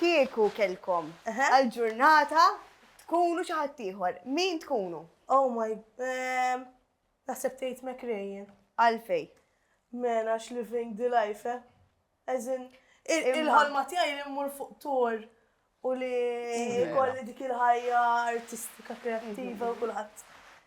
Kieku kellkom għal ġurnata tkunu xi ħadd ieħor, min tkunu? Oh my ehm naħseb tgħid Meg Ryan. Għalfejn? Men għax living the life eh. As in il-ħolma tiegħi li mmur fuq tour u li jkolli dik il-ħajja artistika kreattiva u kulħadd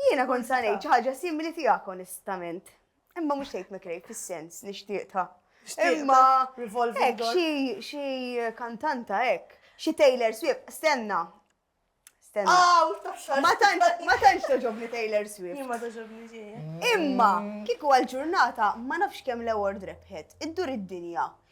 Jiena kont sa ngħid xi ħaġa simili tiegħek onestament. Imma mhux tgħid mikrej fis-sens nixtieq ta' Imma hekk xi kantanta hekk, xi Taylor Swift, stenna. Stenna. Ma tantx ma tantx toġobni Taylor Swift. Ma toġobni xejn. Imma kieku għal ġurnata ma nafx kemm l-award rebħet, iddur id-dinja.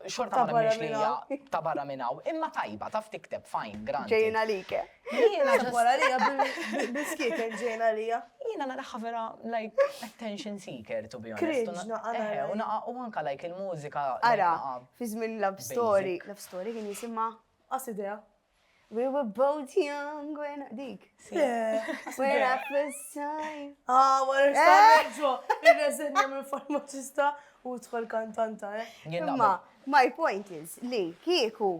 Xorta Ta' ma barra nemminx li minn hija hawn. ta' barra minn hawn, imma tajba, taf tikteb, fine, granted. Ġejjin għalik, eh? Jiena Ġejt just- wara għalija bil- bil-skieken ġejjin għalija. Jiena naraha vera like attention seeker to be honest. u na- Kriġna, ara, Eħe, u ara. naqa' u anka like il-mużika. like, Ara, naqa' fi żmien Love Story, basic. Love Story kien jisimha? Qas idea. We were both young when dik. When I first time. Ah, wara xtaħġo, il-reżenja minn farmaċista u tħol kantanta, eh? Imma, my point is li kieku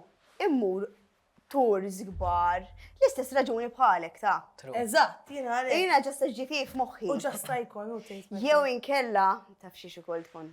immur tours gbar, l-istess raġuni bħalek ta' Eżatt, jina għalek. Jina ġasta ġitif moħħi. U ġasta jkun, u Jew inkella, taf xie xikol tkun.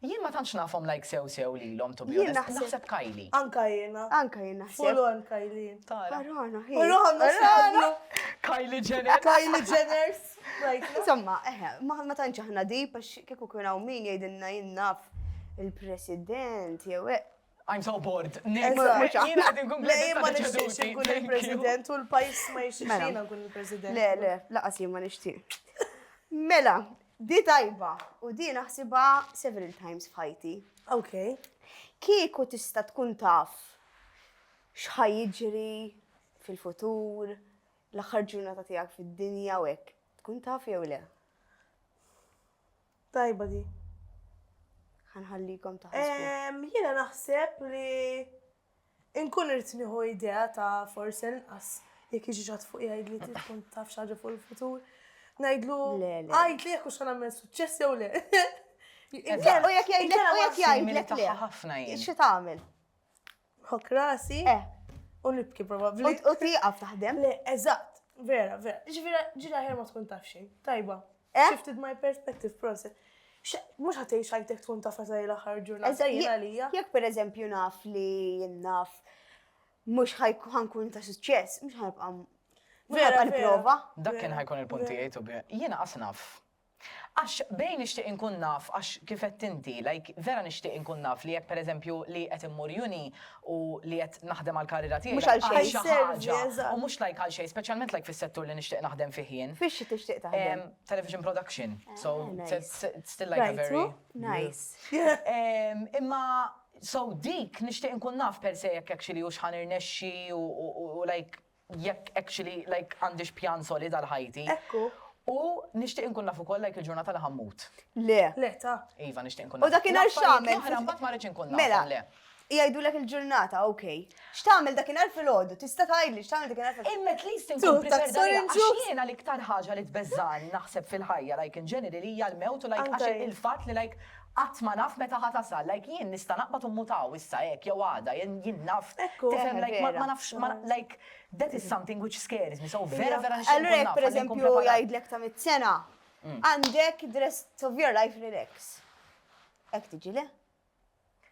Jien ma tantx nafhom like sew sew lilhom to be honest. Jien naħseb. Naħseb Kylie. Anka jiena. Anka jien naħseb. Full on Kylie. Tara. Arana, hi. Arana, Arana. Kylie Jenner. Kylie Jenners. Insomma, eħe, ma tantx aħna dib għax kieku kien hawn min jgħidilna jien naf il-President jew I'm so bored. il-President u l-pajis ma jixtieqina nkun il-President. Le, le, laqas jien ma nixtieq. Mela, di tajba u di naħsibha several times f'ħajti. Ok. Kieku tista' tkun taf x'ħaj jiġri fil-futur, l-aħħar ġurnata tiegħek fid-dinja u hekk, tkun taf jew le? Tajba di. Ħanħallikom taħsbu. Ehm, jiena naħseb li inkun irrid nieħu idea ta' forsi inqas jekk jiġi ġat fuq jgħid li tkun taf xaġa fuq il-futur. Ngħidlu għid li jekk hux nagħmel suċċess jew le. U jekk jgħidlek u jekk jgħidlek le. Ħafna jien. Xi tagħmel? Nħokk rasi. Eh. U nibki probabbli. U tieqaf taħdem. Le, eżatt. Vera, vera. Ġifieri ġila ħer ma tkun taf xejn. Tajba. Eh? Shifted my perspective process. Mux ħatej xajtek tkun taf għazaj l-axar ġurnata għalija. Jek per eżempju naf li jinnaf mux ħankun ta' suċċess, mux ħajbqa' Vera, prova. Dak kien ħajkun il-punti jgħidu bi. Jiena asnaf. Għax bejn nixtieq inkun naf għax kif għedt inti, like, vera nixtieq inkun naf li jekk pereżempju li qed immur uni u li qed naħdem għall-karriera tiegħi Mhux għal xejn. għal xi Għal ħaġa service, eżatt. u mhux like għal xejn, speċjalment like fis-settur li nixtieq naħdem fih jien. Fix tixtieq taħdem? Ehm, television production. So, Ah, it's- nice. it's it's still like a Rajtu? very Nice. Ehm, Imma so dik nixtieq inkun naf per se jekk actually hux ħa nirnexxi u- u u like jekk actually like għandix pjan solid għal ħajti. Ekku. U nixtieq inkun naf ukoll like il-ġurnata li ħammut. Le. Le ta. Iva nixtieq inkun naf. U dakinhar x'għamel? Oħra mbagħad ma rridx inkun naf. Mela. Le. Jgħidulek il-ġurnata, ok. X'tagħmel dakinhar fil-għodu? Tista' tgħidli x'tagħmel dakinhar fil-għodu? Imma at least inkun prepared għalija. Għax jiena l-iktar ħaġa li tbeżżani naħseb fil-ħajja like in general hija l-mewt u like għax il-fatt li like Qatt ma naf meta ħa tasal, like jien nista' naqbad u mmut hawn issa hekk jew għada, jien naf, tifhem like ma ma nafx ma like that is something which scares me, so vera vera nixtieq nkun naf. Allura jekk pereżempju jgħidlek ta' mitt sena, għandek the rest of your life relax. Hekk tiġi le?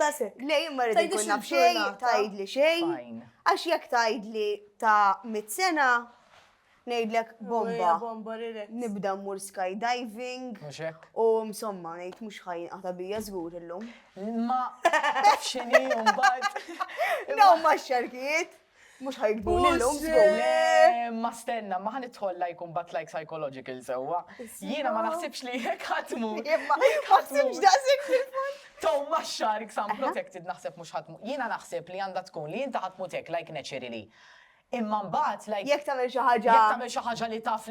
Tasek. Le, jien ma rrid Tgħidlix inkun naf xejn, il-ġurnata. tgħidli xejn. Fine. Għax jekk tgħidli ta' mit sena, ngħidlek bomba. Bomba relax. Nibda mmur skydiving Mhux hekk? u msomma ngħid mhux ħajinqata bija żgur illum. Ma tafx x'inhi u mbagħad. Dawn ma' xarkijiet. Mux ħajkbuni l-lum zgur. Ma stenna, ma ħan itħolla jkun bat like psychological sewa. Jiena ma naħsibx li jek ħatmu. Ħatmux daqsik fil-fond. Tom ma xark sam protected naħseb mux ħatmu. Jiena naħseb li għanda tkun li jinta ħatmu tek like naturally. Imma mbagħad like. Jek tagħmel xi ħaġa. Jek tagħmel xi ħaġa li taf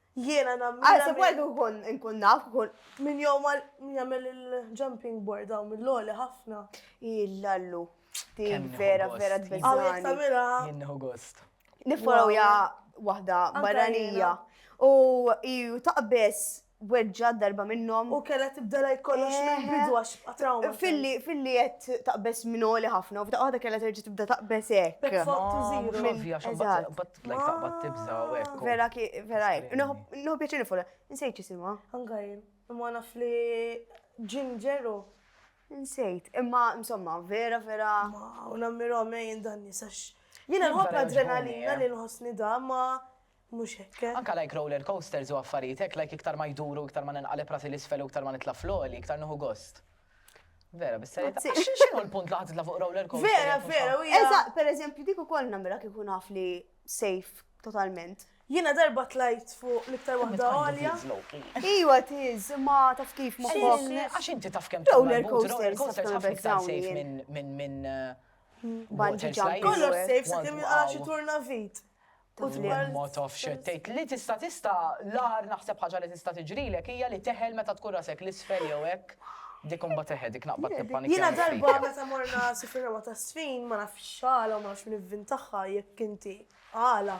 Jiena nammira. Għal se kwajdu nkun nkun naf, nkun. Min jom għal min jagħmel il-jumping board hawn mill-għoli ħafna. Illallu. Din vera vera tbeżżani. Għaw jek tamira. Jinneħu gost. Nifforaw ja waħda barranija. U ju taqbess weġġa darba minnom. U kella tibda laj kollox eh, minn bidu għax trauma. Filli, filli jett taqbess minn għoli ħafna, u f'daqqa kella terġa tibda taqbess ek. Fottu ziru. Tlajk taqbad tibza u hekk. Vera ki, vera hekk. Nħu pjaċir nifol, nsejt jisimha. Anka jien, imma naf li Ginger u. Nsejt, imma insomma, vera, vera. Ma, u nammiro għamja jien dan nisax. Jiena nħobb l-adrenalina eh. li nħossni da, ma mhux hekk. Eh. Anka like roller coasters u affarijiet hekk, like iktar ma jduru, iktar ma ninqaleb rasi l-isfel u iktar ma nitla' floli, iktar nħu gost. Vera, bis-serjetà. X'inhu l-punt li ħadd fuq roller coaster? Vera, vera, u Eżatt, pereżempju dik ukoll nagħmilha kieku naf li safe totalment. Jiena darba tlajt fuq l-iktar waħda għolja. Iwa tiż, ma taf kif ma Għax inti taf kemm roller coaster, coaster taf iktar safe minn minn minn. Kollox safe, sa kemm xi turna vit. U dwar ma tafx xed tgħid li tista' tista' l-agħar naħseb ħaġa li tista' tiġrilek hija li teħel meta tkun rasek l-isfel jew hekk, dik imbagħad eħe dik naqbad nippanikja. Jiena darba meta morna Sifri Rewwa ta' Sfin ma nafx x'għala u ma nafx min ivvintaha jekk inti għala.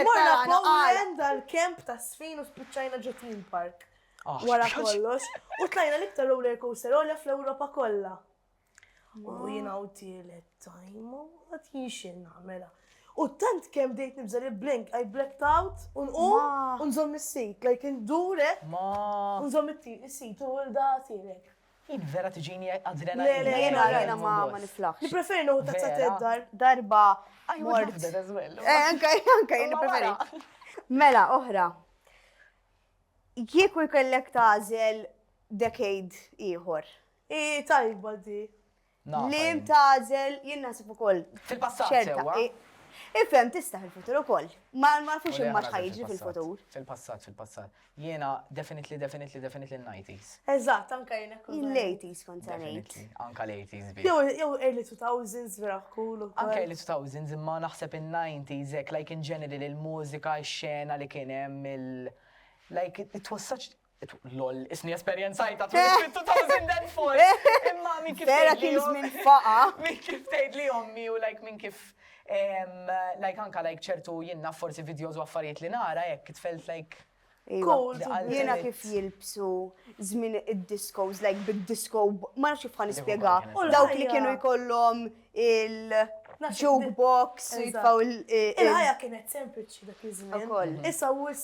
Morna Poland għall-kemp ta' Sfin u spiċċajna ġo Theme Park. Wara kollox. U tlajna l-iktar roller coaster għolja fl-Ewropa kollha. U jina u tielet tajmu, għat jinxin namela. U tant kem dejt nibza li blink, I blacked out, un u, un zom il-sit, like in dure, un zom il-sit, u l-da tirek. Id vera tiġini għadrena. Le, le, jena, jena ma ma niflaħ. Nipreferi nuħu ta' t dar. Darba. I would love that as well. Eh, anka, anka, jena preferi. Mela, oħra. Kieku jkellek tażel decade ieħor I tajba di. Li jintazel, jien naħseb ukoll. Fil-passat sewa. Ifhem tista' fil-futur ukoll. Ma nafux imma x'ħajġi fil-futur. Fil-passat, fil-passat. Jiena definitely, definitely, definitely l-90s. Eżatt, anka jiena kont. Il-80s kont ngħid. Anka l-80s bi. Jew early 2000s vera cool ukoll. Anka early 2000s imma naħseb in-90s hekk like in general il-mużika, x-xena li kien hemm il- Like, it was such Lol, isni esperjenzajta tu fit 2004. Imma min kif Vera kien żmien faqa. Min kif tgħid li ommi u like min kif like anka like ċertu jinnna forsi videos u affarijiet li nara jekk tfelt like Jiena kif jilbsu żmien id-discos, like bid-disco, ma nafx kif nispjega. Dawk li kienu jkollhom il-jukebox, jitfaw il- Il-ħajja kienet sempliċi dak iż-żmien. Issa wis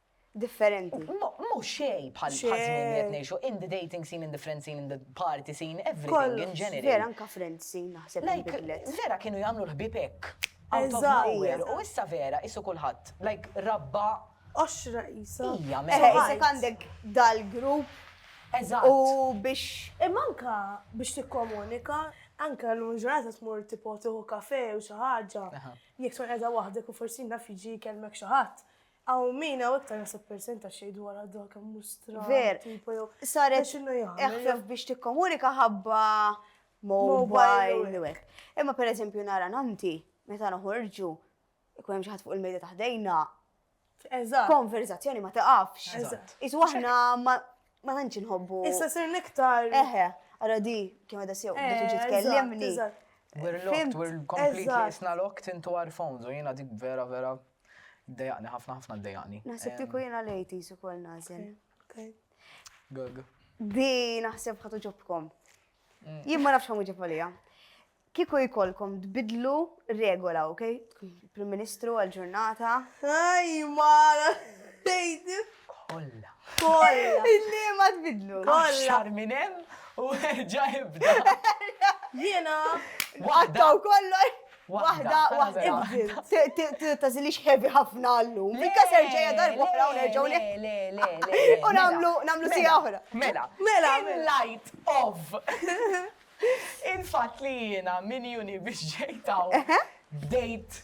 differenti. Mhu xejn bħal żmien li qed ngħixu, in the dating scene, in the friend scene, in the party scene, everything in general. Vera anka friend scene naħseb inbidlet. Vera kienu jagħmlu l-ħbieb hekk. Out of nowhere. U issa vera qisu kulħadd. Like rabba. Oxra qisha. Hija mela. Eħe, isek għandek dal-grupp. Eżatt. U biex. Imma anka biex tikkomunika, anka l-lum ġurnata tmur tipo tieħu kafe u xi ħaġa. Jekk tkun qiegħda waħdek u forsi naf jiġi jkellmek xi ħadd Aw min hawn iktar naħseb persenta xejn dwar għadu kemm mhux stra. Ver. Saret eħfef biex tikkomunika ħabba mobile. Imma per eżempju nara nanti, meta noħorġu, ikun hemm xi ħadd fuq il-medja taħdejna. Eżatt. Konverzazzjoni ma taqafx. Eżatt. Isu aħna ma tantx inħobbu. Issa sir niktar. Eħe, ara di kemm għadha sew biex titkellimni. We're locked, we're completely isna locked into our phones u jiena dik vera vera Iddejaqni, ħafna ħafna ddejaqni. Naħseb kieku jiena l-80s ukoll nażel. Gag. Di naħseb ħatu ġobkom. Mm. Jien ma nafx ħamu ġifolija. Kieku jkollkom tbidlu regola, ok? Prim Ministru għal-ġurnata. Aj, mara, tejdi. Kolla. Kolla. Illi ma tbidlu. Kolla. Xar minem u ġa jibda. Jiena. Waħda u kollu. Waħda, waħda, ibdil. Tazilix heavy ħafna għallum. Mikka ser ġeja darba oħra u nerġaw li. Le, le, le. U namlu, namlu si oħra. Mela, mela. In light of. Infat li jena min juni biex ġejtaw. Bdejt.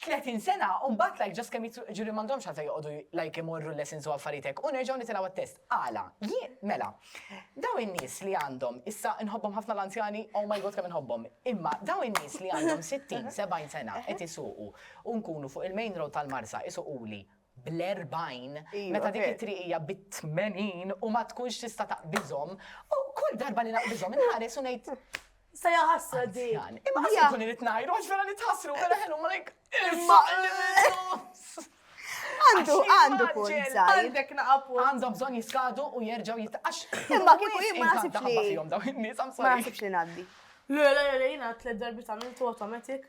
30 sena u mbagħad like ġas kemm jitru ġuri m'għandhomx għalfejn joqogħdu like imorru l-lessons u affarijiet hekk u nerġgħu nitilgħu għat-test. Għala? Jien mela. Dawn in-nies li għandhom, issa nħobbhom ħafna l-anzjani, oh my God kemm inħobbhom. Imma dawn in-nies li għandhom 60, 70 sena qed isuqu u nkunu fuq il-main road tal-Marsa isuquli bl-40, meta dik it-triq hija bit-80 u ma tkunx tista' taqbiżhom, u kull darba li naqbiżhom inħares u ngħid Sa jaħasra di. Imma għax ikun irid ngħidu għax vera nitħassru vera ħelu ma lejk. Għandu, għandu punt. Għandek naqab. Għandhom bżonn jiskadu u jerġgħu jitqax. Imma kieku jien ma nasibx li. Ma nasibx li ngħaddi. Le, le, le, jina tlet darbi ta' minn tu automatic.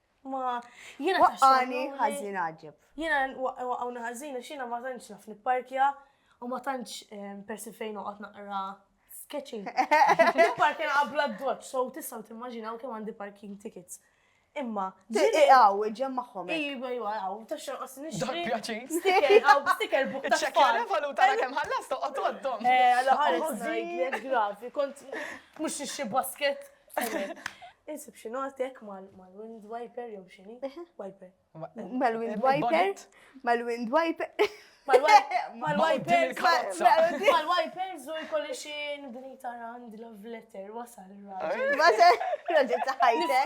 Ma jiena waqqani ħażin għaġib. Jiena waqqawni ħażin għax jiena ma tantx naf nipparkja u ma tantx eh, persi fejn noqgħod naqra sketching. Nipparkja naqabla d-dodġ, so tistgħu timmaġinaw kemm għandi parking tickets. Imma. Tiqaw, ġem maħħom. Iba, iba, għaw, taxxa qas nixtri. Pjaċin. Sticker, għaw, sticker buk. Ċekja revalu tara kem ħallas toqgħod għaddom. Eh, għala ħares grafi, kont mhux nixxi basket. Insib xi notek mal-wind wiper jew xini? Wiper. Mal-wind wiper? Mal-wind wiper? Mal-wiper? Mal-wiper zu jkolli xi nibni tarand love letter wasal. Wasal. Raġel ta' ħajtek.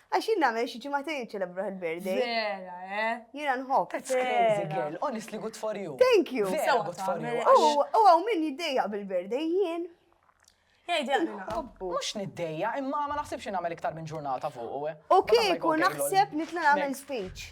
Għax jien nagħmel xi ġimagħtejn iċċelebruh il-birthday. Vera, eh? Jiena nħobb. That's crazy girl, honestly good for you. Thank you. Vera good for you. U għaw min jiddejjaq bil-birthday jien. Mux niddejja, imma ma naħsibx nagħmel iktar minn ġurnata fuq. Eh. Ok, kun naħseb nitla nagħmel speech.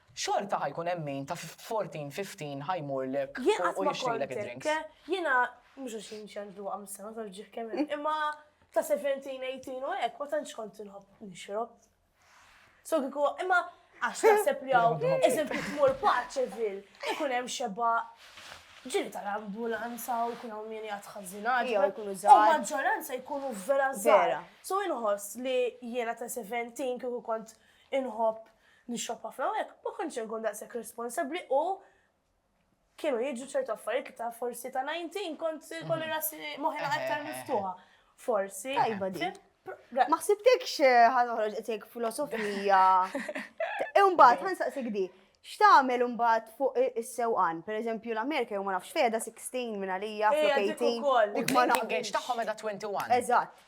Xorta ħa jkun hemm min ta' fourteen, fifteen ħa jmurlek u jixtrilek id-drinks. Jiena mhux għax jien xi għandi dwaqqa mis-sema taf ġieħ kemm hemm, imma ta' seventeen, eighteen u hekk ma tantx kont inħobb nixrob. So kieku imma għax taħseb li hawn eżempju tmur Paċeville ikun hemm xebgħa ġili tal-ambulanza u jkun hawn min jgħid ħażinat. Jew ikunu żgħar. U maġġoranza jkunu vera żgħar. So inħoss li jiena ta' seventeen kieku kont inħobb Nixrob ħafna hawnhekk, ma kontx se nkun daqshekk responsabbli u kienu jiġu ċertu affarijiet li ta' forsi ta' 19 kont se jkolli mhm. rasi moħħi aktar miftuħa. Forsi. Tajba di. Ma ħsibtekx eh, ħanoħroġ qed filosofija. Imbagħad ħansaqsik di. X'tagħmel imbagħad fuq is-sewqan? Pereżempju l-Amerika jew ma nafx fejda 16 minn għalija flok 18. U ma nafx tagħhom edha 21. Eżatt.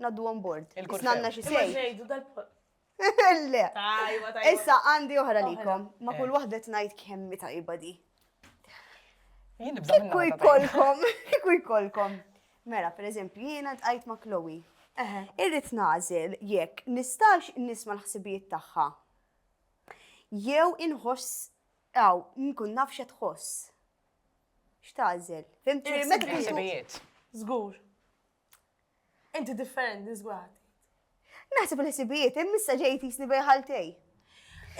Naddu on board. Il-kurfew. Isnanna xi Imma sej. ġejdu dal-pol. Le. Tajba, tajba. Issa għandi oħra Oħra. likom. Ma kull waħda tnajt kemmi tajba di. Jien nibża minna Kieku meta tajt. jkollkom, kieku jkollkom. Mela, per eżempju, jiena tqajt ma' Chloe. Eħe. Irrid nażel jekk nistax nisma' l-ħsibijiet tagħha. Jew inħoss aw nkun naf x'qed tħoss. X'tażel? Fimtni Irrid meta tkun tu- Ħsibijiet. Żgur. Inti differenti, zgħat. Naħseb il-ħsibijiet, immissa ġejt jisni bejħaltej.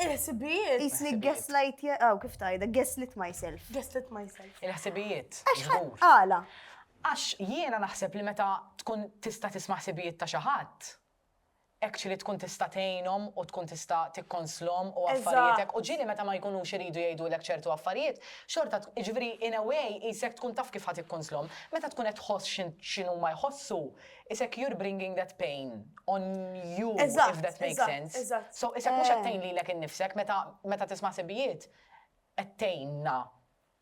Il-ħsibijiet? Jisni gaslight, għaw oh, kif tajda, gaslit myself. Gaslit myself. Il-ħsibijiet. Għala. Għax jiena naħseb li meta tkun tista' tisma' ħsibijiet ta' xi ħadd, Hekk xi li tkun tista' tgħinhom u tkun tista' tikkonslhom u affarijiet hekk. U ġieli meta ma jkunux iridu jgħidulek ċertu affarijiet, xorta, jiġifieri in a way qisek tkun taf kif ħa tikkonslhom. Meta tkun qed tħoss x'inhuma jħossu, qisek you're bringing that pain on you if that makes sense. So qisek mhux qed tgħin lilek innifsek meta tisma' sibijiet qed tgħinna.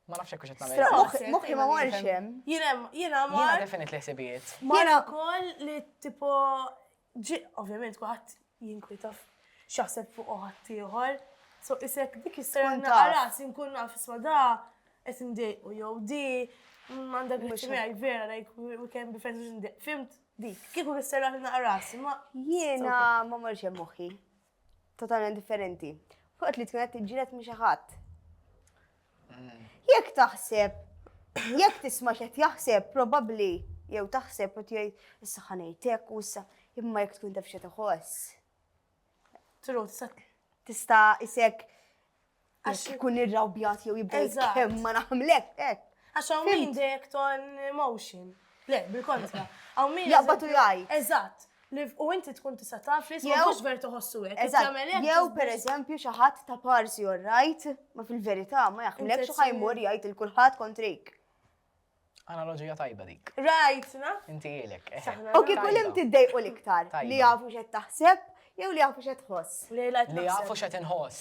Ma nafx hekk x'qed nagħmel. Moħħi ma marx hemm. Jiena jiena ma. Jiena definit li ħsibijiet. Jiena wkoll li tipo ġi ovvjament kulħadd jinkwita x'jaħseb fuq ħadd ieħor. So isek dik is-sera naqra nkun naf isma' da qed indejqu jew di m'għandek mhux miegħi vera like we can be friends fimt dik. Kieku is-sera naqra ma jiena ma marx hemm moħħi. totalment differenti. Fuq li tkun qed tiġġieled minn xi ħadd. Mm. Jekk taħseb, jekk tisma' x'qed jaħseb, probabbli jew taħseb u tgħid issa ħanejtek u issa imma jekk tkun taf xi tħoss. Tru tista' isek Għax ikun irrawbjat jew jibda kemm ma naħmlek hekk. Għax hawn min dejjek ton emotion. Le, bil-kontra. Hawn min. Jaqbatu jgħaj. Eżatt. U inti tkun tista' taf li jew mhux ver toħossu hekk. Eżatt. Jew pereżempju xi ħadd ta' parsi or right, ma fil-verità ma jaħmlek xi ħajmur jgħid il kulħadd kontrejk. Analoġija tajba dik. Right, na? Inti ilek. Eh. U kieku l imti d-dejqu l-iktar li jafu xed taħseb jew li jafu xed tħoss. Li jafu xed inħoss.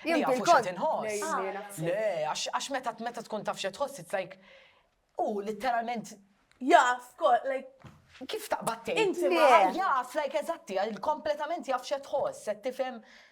Li jafu xed inħoss. Le, għax meta meta tkun taf xed tħoss, it's like, u literalment. Jaf, kol, like. Kif taqbad tgħid? Inti jaf, like, eżatti, kompletament jaf xed tħoss, se tifhem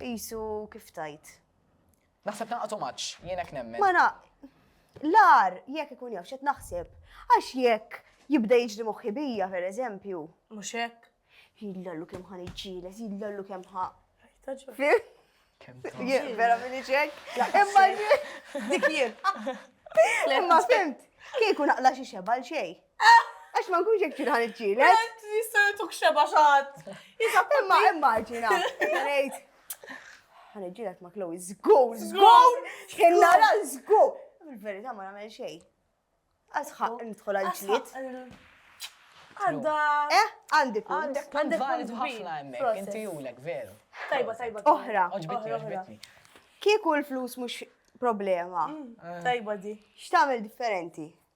Qisu kif tgħid. Naħseb nagħqad omaġġ, jien hekk nemmen. Ma na, l-agħar jekk ikun jaf x'qed naħseb, għax jekk jibda jiġri moħħi bija, per eżempju. Mhux hekk? Jillallu kemm ħa niġġieles, jillallu kemm ħa. Vera minni ċek? Imma dik jien. Imma fimt, kieku naqla xi xebal xej. Għax ma nkunx jek ċin ħan iċċile. Jistajatuk xeba xaħat. Imma immaġina. Għanajt. Għan iċċilek ma Chloe. Zgur, zgur. Kena la zgur. Il-verita ma namel xej. Asħa, nidħol għal-ġliet. Għanda. Eh, għandi punt. Għandi valid ħafna emmek, inti julek, veru. Tajba, tajba. Oħra. Oġbitni, oġbitni. Kieku l-flus mux problema. Mm, eh. Tajba di. Xtamil differenti?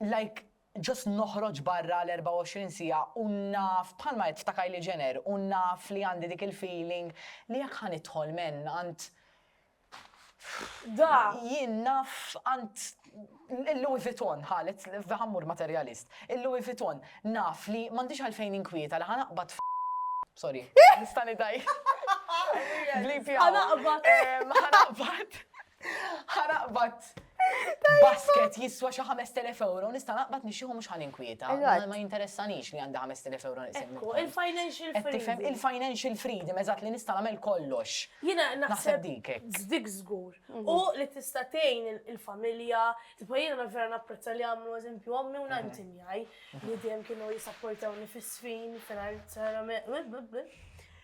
Like just noħroġ barra għal 24 siegħa u naf, bħalma għedt ta' Kylie Jenner, u naf li għandi dik il-feeling li jekk ħa nidħol m'en għand Da! jien naf għand il-Louis Vuitton, ħa let's ħa mmur materjalist, il-Louis Vuitton, naf li m'għandix għalfejn inkwieta li ħa naqbad f', sorry, nista' nidgħi, bleep it out, ħa naqbad, Ħa naqbad basket jiswa xi 5000 euro, nista' naqbad nixxieħu mhux ħan inkwieta. Eżatt. Ma jinteressanix li għandi 5000 euro niqsim. Ekku, il-financial Qed tifhem freedom. il-financial freedom eżatt li nista' nagħmel kollox. Jiena Naħseb naħseb dik hekk. dik żgur. U li tista' tgħin il- il-familja, tipo jiena na- vera napprezza li għamlu eżempju ommi u nannti miegħi li dejjem kienu jissapportawni fis-sfin, finanzjarjament,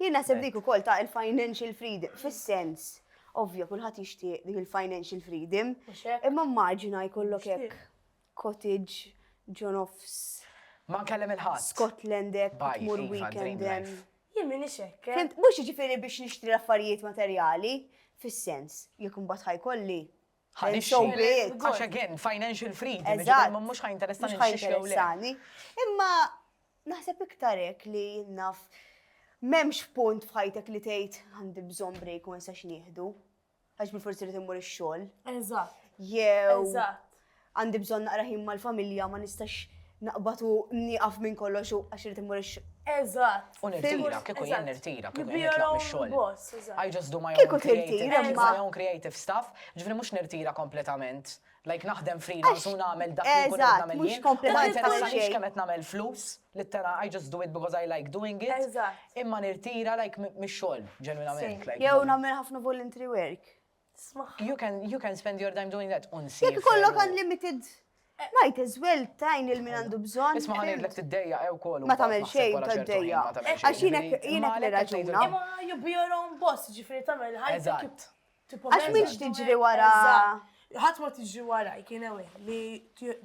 Jien naħseb dik ukoll ta' il-financial freedom, fis-sens, ovvja kulħadd jixtieq dik il-financial freedom, imma immaġina jkollok hekk cottage ġo nofs. Ma nkellem il-ħadd. Scotland hekk tmur iva, weekend hemm. Jien minn hekk. Eh. Fimt, mhux jiġifieri biex nixtri l-affarijiet materjali, fis-sens, jekk imbagħad ħajkolli Ħanixxi. Għax again, financial freedom. Eżatt. Mhux ħajinteressani nixxix jew le. Imma naħseb iktar hekk li naf m'hemmx punt f'ħajtek li tgħid għandi bżonn break u nsax nieħdu. Għax bil forsi li timmur ix-xogħol. Eżatt. Jew. Eżatt. Għandi bżonn naqra ħin mal-familja ma nistax naqbad u nieqaf minn kollox u għax irid immur ix Eżatt. U nirtira, kieku jien nirtira, kieku jien nitlaq mix-xogħol. I just do my own creative, my own creative stuff, ġifieri mhux nirtira kompletament. Like naħdem freelance u nagħmel dak li nkun qed nagħmel jien. U ma jinteressanix kemm qed nagħmel flus, littera I just do it because I like doing it. Imma nirtira like mix-xogħol, ġenwinament. Jew nagħmel ħafna voluntary work. You can, you can spend your time doing that unsi. Jek kollok unlimited. Eh. Might as well tajn il-min għandu bżon. Isma għan id-lek t-dejja ew kollu. Ma tamel xej ta' d-dejja. Għax jinek jinek li raġuna. Imma you be your own boss, ġifri tamel ħajja. Għax minx tiġri wara. ħat ma tiġri wara, jkien ewe, li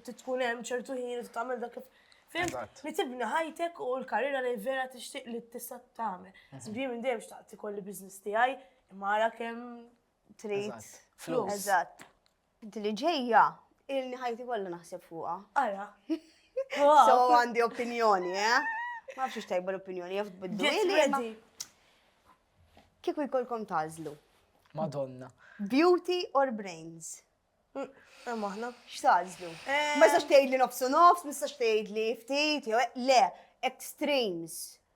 tkun hemm ċertu ħin u tagħmel dak Fim, li tibni ħajtek u l-karriera li vera tixtieq li tista' tagħmel. Sbri minn dejjem xtaqt ikolli business tiegħi, Mara kemm trid. Flus. Eżatt. Li ġejja, ilni ħajti kollha naħseb fuqha. Ara. So għandi opinjoni, eh? Ma nafx tajba l-opinjoni, jaf biddu. Kieku jkollkom tażlu. Madonna. Beauty or brains? Mm, eh, maħna. Xtażlu? Eh. Ma jistax tgħid li nofsu nofs, ma jistax tgħid li ftit, le, extremes.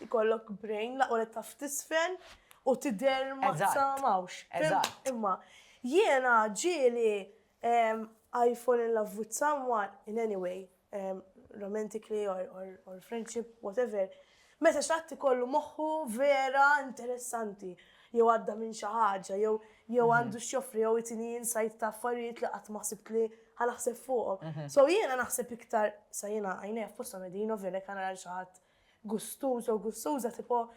Ikollok brain, laqwa li taf tisfel u tidher ma tsamawx. Imma jiena ġieli I fall in love with someone in any way, romantically or friendship, whatever, meta xi ħadd ikollu moħħu vera interessanti, jew għadda minn xi ħaġa, jew għandu x'joffri, jew itini insight ta' affarijiet li qatt ma ħsibt li ħa naħseb fuqhom. So jiena naħseb iktar, sa jiena għajnejja f'posthom qegħdin, ovvja lek ħa nara lil xi ħadd Gustużo, gustuża, tipo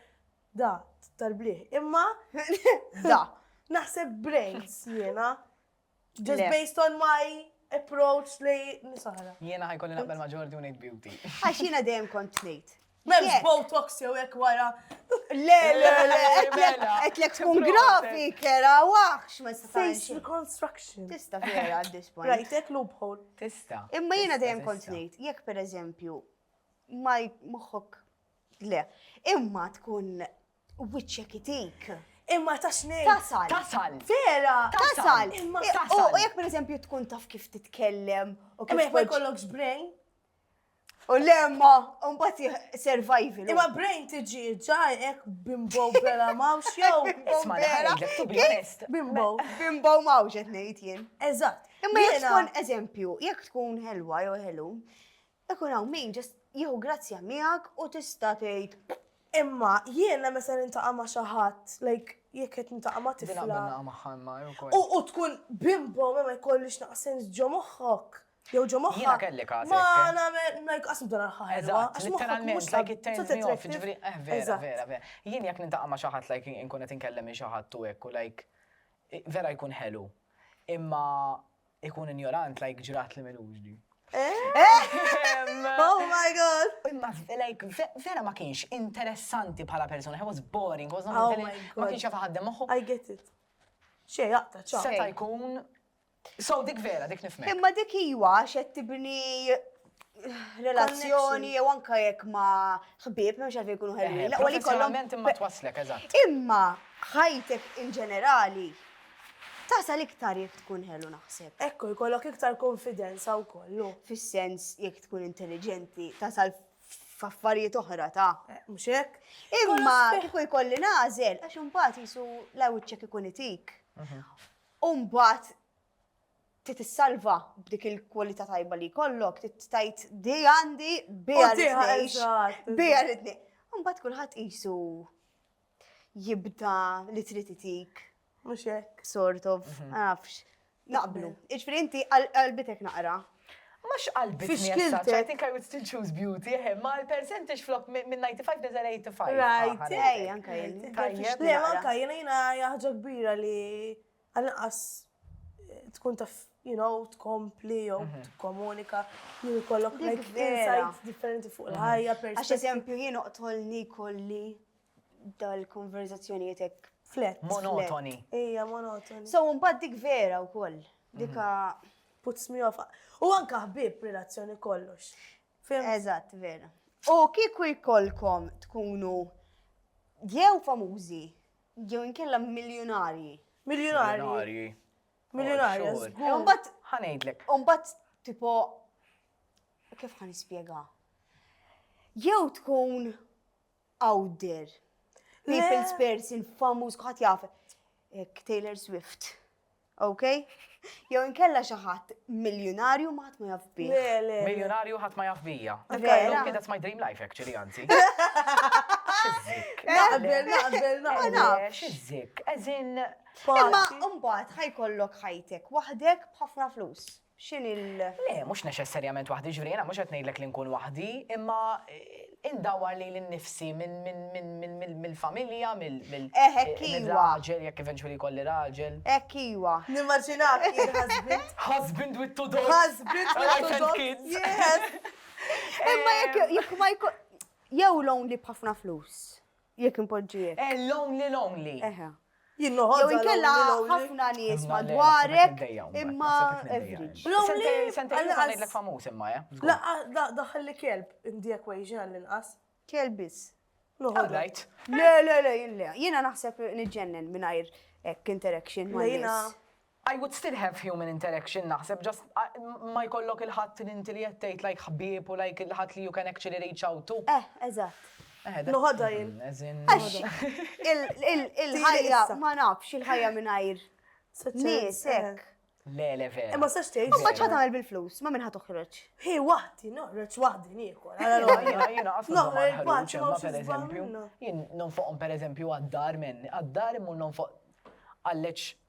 da, tal-blieh. Imma da. Naħseb brains jiena. Just based on my approach li nisa oħra. Jiena ħajkolli naqbel ma' Ġordi u ngħid beauty. Għax jiena dejjem kont ngħid. M'hemmx botox jew hekk wara. Le, le, le, qedlek tkun grafi, kera, waħx ma tista' Face reconstruction. Tista' vera at this point. Rajtek loophole. Tista'. Imma jiena dejjem kont ngħid, jekk pereżempju ma moħħok le. Imma tkun wiċċek itik. Imma ta' xnej. Tasal. Tasal. Vera. Tasal. Imma tasal. U jekk per eżempju tkun taf kif titkellem u kif. Imma jkollokx brain. U lemma, un bat survival. Imma brain tiġi ġajek bimbow bela mawx jow. Isma naħdek, to be honest. Bimbow. Bimbow mawx etnejt jien. Eżat. Imma jek tkun eżempju, jek tkun helwa jow helu, Ikun hawn min just jieħu grazzja miegħek u tista' tgħid, imma jiena meta niltaqa' ma' xi ħadd, like jekk qed niltaqa' ma' tifla. Din naqbel niltaqa' magħha imma hi wkoll. U tkun bimbo ma jkollix naqas sens ġo moħħok jew ġo moħħha. Jiena kelli każ hekk. Ma nagħmel, like qatt m'ibda nagħlħaq ħelwa. Eżatt, literalment, mhux like it turns me off, jiġifieri eh vera, vera, vera. Jien jekk niltaqa' ma' xi ħadd like inkun qed inkellem lil xi ħadd u hekk u like vera jkun ħelu. Imma Ikun injorant like ġrat li milux di. Oh my god! Imma, like, vera ma kienx interessanti bħala persona, he was boring, was not oh ma kienx jafa ħaddem moħħu. I get it. Xej, jaqta, ċa. Seta jkun. So, dik vera, dik nifhem. Imma dik iwa, xed tibni relazzjoni jew anka jekk ma ħbieb mhux għalfejn jkunu ħelwin. Eh, Laqwa li kollhom imma twaslek eżatt. Imma ħajtek in ġenerali tasal iktar jekk tkun ħelu naħseb. Ekku jkollok iktar konfidenza wkoll. Fis-sens jekk tkun intelligenti tasal f'affarijiet oħra ta' eh, mhux hekk. Imma kieku jkolli nażel għax imbagħad jisu l-awċċek ikun itik. Mhm. Umbat titissalva b'dik il-kwalità tajba li kollok, tittajt di għandi bija rritnejx. Bija rritni. Mbagħad kulħadd qisu jibda li trid itik. Mhux hekk. Sort of, mhm. nafx. Naqblu. Iġfri inti qalbitek naqra. Mux qalbi t-nixkilt. I think I would still choose beauty, eh, ma l-percentage flok minn 95 nizal 85. Right, ej, anka jien. Tajjeb. Le, anka jien jina jaħġa kbira li Għal-inqas tkun taf, you know, tkompli jew mhm. tkomunika, jien kollok like insights differenti fuq mhm. il-ħajja. Għax eżempju jien oqtolni kolli dal-konverzazzjonijiet hekk flet. Monotoni. Ija, monotoni. So, mbagħad dik vera wkoll. Mhm. Dika puts me off. U anka ħbib relazzjoni kollox. Eżatt, vera. U kieku jkollkom tkunu jew famużi Jew inkella miljunarji. Miljunarji. Miljunarji. Miljunarji. Oh, sure. Umbat. Ħanejdlek. Umbat, tipo, kif ħan ispjega? Jew tkun out there, people's person, famuż, kħat jaf, Taylor Swift. Ok? Jew inkella xi ħadd miljunarju ma ħadd ma jaf bih. Le, le, le. Miljunarju ħadd ma jaf bija. Vera? Illum kien that's my dream life actually, anzi. Xizzik. Naqbel, naqbel, Ma naqbel. nafx. Xizzik. Eżin. Imma mbagħad ħajkollok ħajtek waħdek b'ħafna flus. X'inhi l. Le, mhux neċessarjament waħdi, jiġifieri jiena mhux qed ngħidlek li nkun waħdi, imma indawwar lili nnifsi mill-familja, mill. Eh, hekk iva! Mir-raġel, jekk eventually jkolli raġel. Hekk iva! Nimmaġinak jien husband. Husband with two dogs. Husband with two dogs. Wife and kids. Yes! Imma jekk ma jkun. Jew lonely b'ħafna flus. Jekk inpoġġiek. Eh, lonely, lonely. Eħe. Jien noħodha. Jew inkella ħafna nies madwarek imma average. Lonely. Sentej li ngħidlek famuż imma, eh? La, daħħal li kelb in the equation għall-inqas. Kelb biss. Noħodha. Le, le, le, jiena naħseb niġġennen mingħajr interaction ma' jiena. I would still have human interaction naħseb just ma jkollok il-ħadd li inti li qed tgħid like ħbieb u like il-ħadd li you can actually reach out to. Eh, eżatt. Eh, Noħodha jien. Għax il-ħajja ma nafx il-ħajja mingħajr nies eh. hekk. Le, le, vera. Imma sax tgħid. Imma ċad għamel bil-flus, ma minn ħadd toħroġ. Hi waħdi, noħroġ waħdi nieħor. Jiena qasam noħroġ waħdi ma pereżempju. Jien nonfoqhom pereżempju għad-dar minn, għad-dar imma nonfoq għalleċ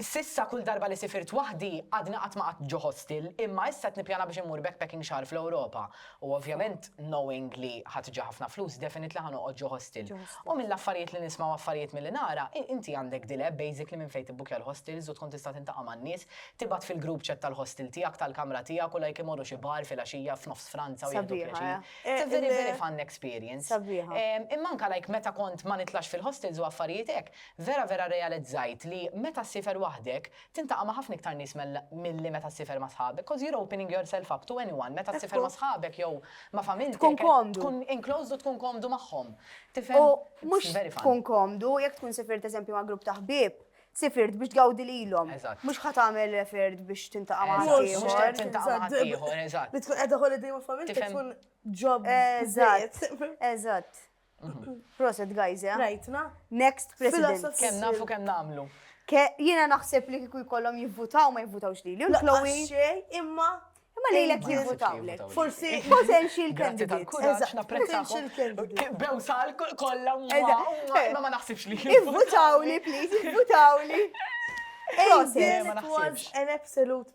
S'issa kull darba li sifirt waħdi għadni qatt ma qgħadt ġo hostel imma issa qed nippjana biex immur backpacking xahar fl-Ewropa u ovvjament knowing li ħa tiġi ħafna flus definitely ħa noqgħod ġo hostel. U mill-affarijiet li nisma' u affarijiet milli nara inti għandek dil-app basically minn fejn tibbukja l-hostels u tkun tista' tintaqa' man-nies, tibgħat fil-group chat tal-hostel tiegħek, tal-kamra tiegħek u like imorru xi bar filgħaxija f'nofs Franza u jieħdu pjaċir. It's a very very fun experience. Imma anke like meta kont ma nitlax fil-hostels u affarijiet hekk, Vera vera rrealizzajt li meta ssifer waħdek, tintaqa' ma' ħafna iktar nies milli meta ssifer ma' sħabek, 'cause you're opening yourself up to anyone, meta ssifer ma' sħabek jew ma' familtek, tkun enclosed u tkun komdu magħhom. Tifhem? U mhux tkun komdu, jekk tkun sifirt eżempju ma' grupp ta' ħbieb, sifirt biex tgawdi lilhom. Mhux ħa tagħmel referred biex tintaqa' ma' ħaddieħor. Mhux ħa tintaqa' ma' ħaddieħor, eżatt. Li tkun qiegħda holiday ma' familtek tkun ġob. Eżatt, eżatt. Proset, guys, eh? Rajtna. Next president. Kem nafu kem namlu. Ke, jina naħseb li kiku jkollom jivvutaw ma jivvutawx li. Lil Chloe. Imma. Imma li l-ek jivvutaw. Forsi. Potential candidate. Kuraċ naprezzakom. Bew sal kolla. Ma ma naħsibx li. Jivvutaw li, please, jivvutaw li. Proset. Ma naħsibx. An absolute